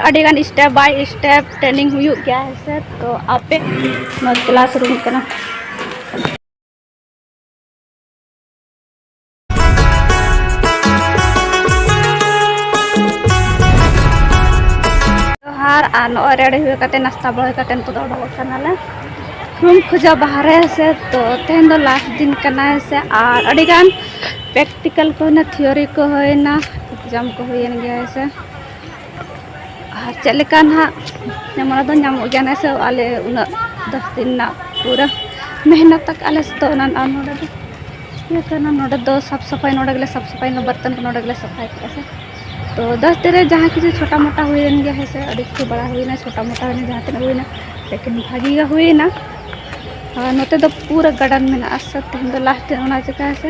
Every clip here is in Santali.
ᱟᱹᱰᱤ ᱜᱟᱱ ᱥᱴᱮᱯ ᱵᱟᱭ ᱥᱴᱮᱯ ᱴᱨᱮᱱᱤᱝ ᱦᱩᱭᱩᱜ ᱜᱮᱭᱟ ᱦᱮᱸ ᱥᱮ ᱛᱚ ᱟᱯᱮ ᱱᱚᱣᱟ ᱠᱞᱟᱥ ᱨᱩᱢ ᱠᱟᱱᱟ ᱡᱚᱦᱟᱨ ᱟᱨ ᱱᱚᱜᱼᱚᱭ ᱨᱮᱰᱤ ᱦᱩᱭ ᱠᱟᱛᱮ ᱱᱟᱥᱛᱟ ᱵᱟᱲᱟ ᱦᱩᱭ ᱠᱟᱛᱮ ᱱᱤᱛᱚᱜ ᱫᱚ ᱚᱰᱚᱠᱚᱜ ᱠᱟᱱᱟᱞᱮ ᱨᱩᱢ ᱠᱷᱚᱡᱟ ᱵᱟᱦᱨᱮ ᱥᱮ ᱛᱚ ᱛᱮᱦᱮᱧ ᱫᱚ ᱞᱟᱥᱴ ᱫᱤᱱ ᱠᱟᱱᱟ ᱥᱮ ᱟᱨ ᱟᱹᱰᱤ ᱜᱟᱱ ᱯᱨᱮᱠᱴᱤᱠᱟᱞ ᱠᱚ ᱦᱩᱭᱱᱟ ᱛᱷᱤᱭᱳᱨᱤ ᱠᱚ ᱦᱩᱭᱱᱟ ᱮᱠᱡᱟᱢ ᱠᱚ ᱦᱩᱭᱮᱱ ᱜᱮᱭᱟ ᱥᱮ ᱟᱨ ᱪᱮᱫ ᱞᱮᱠᱟ ᱱᱟᱦᱟᱜ ᱧᱟᱢᱚᱜ ᱫᱚ ᱧᱟᱢᱚᱜ ᱜᱮᱭᱟ ᱱᱮᱥ ᱦᱚᱸ ᱟᱞᱮ ᱩᱱᱟᱹᱜ ᱫᱚᱥ ᱫᱤᱱ ᱨᱮᱱᱟᱜ ᱯᱩᱨᱟᱹ ᱢᱮᱦᱱᱚᱛ ᱟᱠᱟᱫ ᱟᱞᱮ ᱥᱮ ᱚᱱᱟ ᱟᱨ ᱱᱚᱰᱮ ᱫᱚ ᱤᱭᱟᱹ ᱠᱟᱱᱟ ᱱᱚᱰᱮ ᱫᱚ ᱥᱟᱯ ᱥᱟᱯᱷᱟᱭ ᱱᱚᱰᱮ ᱜᱮᱞᱮ ᱥᱟᱯ ᱥᱟᱯᱷᱟᱭ ᱱᱚᱰᱮ ᱵᱚᱨᱛᱚᱱ ᱠᱚ ᱱᱚᱰᱮ ᱜᱮᱞᱮ ᱥᱟᱯᱷᱟᱭ ᱠᱮᱫᱼᱟ ᱥᱮ ᱛᱚ ᱫᱚᱥ ᱫᱤᱱ ᱨᱮ ᱡᱟᱦᱟᱸ ᱠᱤᱪᱷᱩ ᱪᱷᱳᱴᱟ ᱢᱳᱴᱟ ᱦᱩᱭᱮᱱ ᱜᱮᱭᱟ ᱦᱮᱸ ᱥᱮ ᱟᱹᱰᱤ ᱠᱤᱪᱷᱩ ᱵᱟᱲᱟ ᱦᱩᱭᱱᱟ ᱪᱷᱳᱴᱟ ᱢᱳᱴᱟ ᱦᱩᱭᱱᱟ ᱡᱟᱦᱟᱸ ᱛᱤᱱᱟᱹᱜ ᱦᱩᱭᱱᱟ ᱞᱮᱠᱤᱱ ᱵᱷᱟᱹᱜᱤ ᱜᱮ ᱦᱩᱭᱱᱟ ᱟᱨ ᱱᱚᱛᱮ ᱫᱚ ᱯᱩᱨᱟᱹ ᱜᱟᱨᱰᱮᱱ ᱢᱮᱱᱟᱜᱼᱟ ᱥᱮ ᱛᱮᱦᱮᱧ ᱫᱚ ᱞᱟᱥᱴ ᱰᱮ ᱚᱱᱟ ᱪᱤᱠᱟᱹ ᱦᱮᱸ ᱥᱮ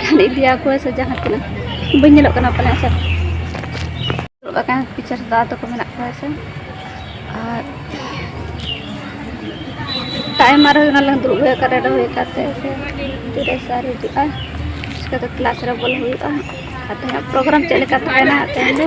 ᱜᱟᱱ ᱤᱫᱤᱭᱟᱠᱚ ᱥᱮ ᱡᱟᱦᱟᱸ ᱛᱤᱱᱟᱹᱜ ᱵᱟᱹᱧ ᱧᱮᱞᱚᱜ ᱠᱟᱱᱟ ᱯᱟᱞᱮ ᱥᱮ ᱫᱩᱲᱩᱵ ᱟᱠᱟᱱ ᱯᱤᱪᱷᱟᱹ ᱨᱮ ᱫᱟᱫᱟ ᱛᱟᱠᱚ ᱢᱮᱱᱟᱜ ᱠᱚᱣᱟ ᱥᱮ ᱟᱨ ᱴᱟᱭᱤᱢ ᱟᱨ ᱦᱩᱭ ᱚᱱᱟᱞᱟᱝ ᱫᱩᱲᱩᱵ ᱦᱩᱭ ᱟᱠᱟᱱ ᱨᱮᱰᱤ ᱦᱩᱭ ᱟᱠᱟᱱ ᱛᱮ ᱥᱮ ᱛᱤᱨᱮ ᱥᱟᱨ ᱦᱤᱡᱩᱜᱼᱟ ᱪᱤᱠᱟᱹ ᱫᱚ ᱠᱞᱟᱥ ᱨᱮ ᱵᱚᱞᱚ ᱦᱩᱭᱩᱜᱼᱟ ᱟᱨ ᱛᱮᱦᱮᱧᱟᱜ ᱯᱨᱳᱜᱨᱟᱢ ᱪᱮᱫ ᱞᱮᱠᱟ ᱛᱟᱦᱮᱱᱟ ᱛᱮᱦᱮᱧ ᱫᱚ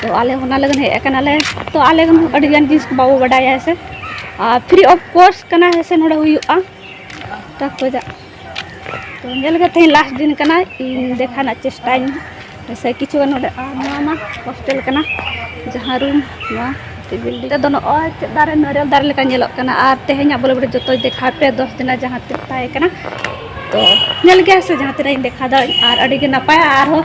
ᱛᱚ ᱟᱞᱮ ᱚᱱᱟ ᱞᱟᱹᱜᱤᱫ ᱦᱮᱡ ᱟᱠᱟᱱᱟᱞᱮ ᱛᱚ ᱟᱞᱮ ᱦᱚᱸ ᱟᱹᱰᱤ ᱜᱟᱱ ᱡᱤᱱᱤᱥ ᱠᱚ ᱵᱟᱵᱚ ᱵᱟᱰᱟᱭᱟ ᱦᱮᱸ ᱥᱮ ᱟᱨ ᱯᱷᱨᱤ ᱚᱯᱷ ᱠᱳᱨᱥ ᱠᱟᱱᱟ ᱦᱮᱸ ᱥᱮ ᱱᱚᱰᱮ ᱦᱩᱭᱩᱜᱼᱟ ᱛᱚ ᱠᱷᱚᱡᱟᱜ ᱛᱚ ᱧᱮᱞ ᱜᱮ ᱛᱮᱦᱮᱧ ᱞᱟᱥᱴ ᱫᱤᱱ ᱠᱟᱱᱟ ᱤᱧ ᱫᱮᱠᱷᱟ ᱨᱮᱱᱟᱜ ᱪᱮᱥᱴᱟᱭᱟᱹᱧ ᱦᱮᱸ ᱥᱮ ᱠᱤᱪᱷᱩ ᱜᱟᱱ ᱱᱚᱰᱮ ᱟᱨ ᱱᱚᱣᱟ ᱢᱟ ᱦᱳᱥᱴᱮᱞ ᱠᱟᱱᱟ ᱡᱟᱦᱟᱸ ᱨᱩᱢ ᱱᱚᱣᱟ ᱵᱤᱞᱰᱤᱝ ᱨᱮᱫᱚ ᱱᱚᱜᱼᱚᱭ ᱪᱮᱫ ᱫᱟᱨᱮ ᱱᱟᱹᱨᱮᱞ ᱫᱟᱨᱮ ᱞᱮᱠᱟ ᱧᱮᱞᱚᱜ ᱠᱟᱱᱟ ᱟᱨ ᱛᱮᱦᱮᱧᱟᱜ ᱵᱚᱞᱮ ᱵᱚᱞᱮ ᱡᱚᱛᱚ ᱫᱮᱠᱷᱟᱣ ᱯᱮ ᱫᱚᱥ ᱫᱤᱱᱟᱜ ᱡᱟᱦᱟᱸ ᱛᱤᱱ ᱛᱟᱦᱮᱸ ᱠᱟᱱᱟ ᱛᱚ ᱧᱮᱞ ᱜᱮᱭᱟ ᱥᱮ ᱡᱟᱦᱟᱸ ᱛᱤᱱᱟᱹᱜ ᱤᱧ ᱫᱮᱠᱷᱟᱣ ᱫᱟᱲᱮᱭᱟᱜ ᱟᱨ ᱟᱹᱰᱤ ᱜᱮ ᱱᱟᱯᱟᱭᱟ ᱟᱨᱦᱚᱸ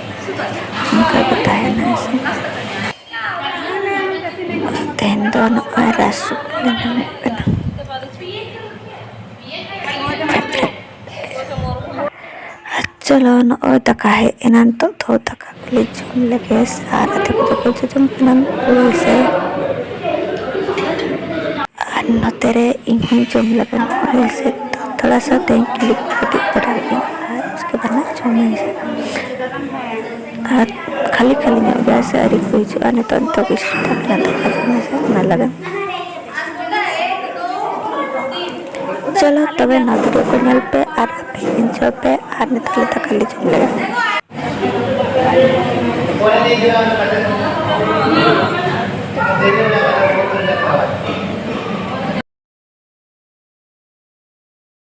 ᱱᱚᱝᱠᱟ ᱠᱚ ᱛᱟᱦᱮᱱᱟ ᱥᱮ ᱛᱮᱦᱮᱧ ᱫᱚ ᱱᱚᱝᱠᱟ ᱨᱟᱥ ᱥᱩᱠᱨᱤ ᱞᱮ ᱧᱟᱢᱚᱜ ᱠᱟᱱᱟ ᱟᱨ ᱪᱚᱞᱚ ᱱᱚᱜᱼᱚᱭ ᱫᱟᱠᱟ ᱦᱮᱡ ᱮᱱᱟ ᱱᱤᱛᱚᱜ ᱫᱚ ᱫᱟᱠᱟ ᱠᱚᱞᱮ ᱡᱚᱢ ᱞᱮᱜᱮ ᱟᱨ ᱟᱫᱷᱮ ᱠᱚᱫᱚ ᱠᱚ ᱡᱚᱡᱚᱢ ᱠᱟᱱᱟ ᱩᱞ ᱥᱮ ᱟᱨ ᱱᱚᱛᱮ ᱨᱮ ᱤᱧ ᱦᱚᱸᱧ ᱡᱚᱢ ᱞᱮᱜᱮ ᱱᱚᱜᱼᱚᱭ ᱥᱮ ᱛᱷᱚᱲᱟ ᱥᱟ ᱛᱮᱦᱮᱧ ᱠᱞᱤᱯ ᱠᱟᱹᱴᱤᱡ ᱵᱟᱰᱟᱭ ᱜᱮ ᱪᱤᱠᱟᱹ ᱛᱟᱦᱮᱱᱟ ᱪᱷᱚ ᱢᱟᱹᱦᱤ ᱥᱮᱫ ᱟᱨ ᱠᱷᱟᱹᱞᱤ ᱠᱷᱟᱹᱞᱤ ᱧᱚᱜ ᱜᱮᱭᱟ ᱥᱮ ᱟᱹᱣᱨᱤ ᱠᱚ ᱦᱤᱡᱩᱜᱼᱟ ᱱᱤᱛᱚᱜ ᱱᱤᱛᱚᱜ ᱜᱮ ᱥᱴᱟᱨᱴ ᱟᱠᱟᱱᱟ ᱛᱚ ᱠᱷᱟᱹᱞᱤ ᱢᱟᱹᱦᱤ ᱥᱮᱫ ᱚᱱᱟ ᱞᱟᱹᱜᱤᱫ ᱪᱚᱞᱚ ᱛᱚᱵᱮ ᱱᱚᱣᱟ ᱵᱷᱤᱰᱤᱭᱳ ᱠᱚ ᱧᱮᱞ ᱯᱮ ᱟᱨ ᱟᱯᱮ ᱤᱱᱡᱚᱭ ᱯᱮ ᱟᱨ ᱱᱤᱛᱚᱜ ᱞᱮ ᱫᱟᱠᱟ ᱞᱮ ᱡᱚᱢ ᱞᱮᱜᱟ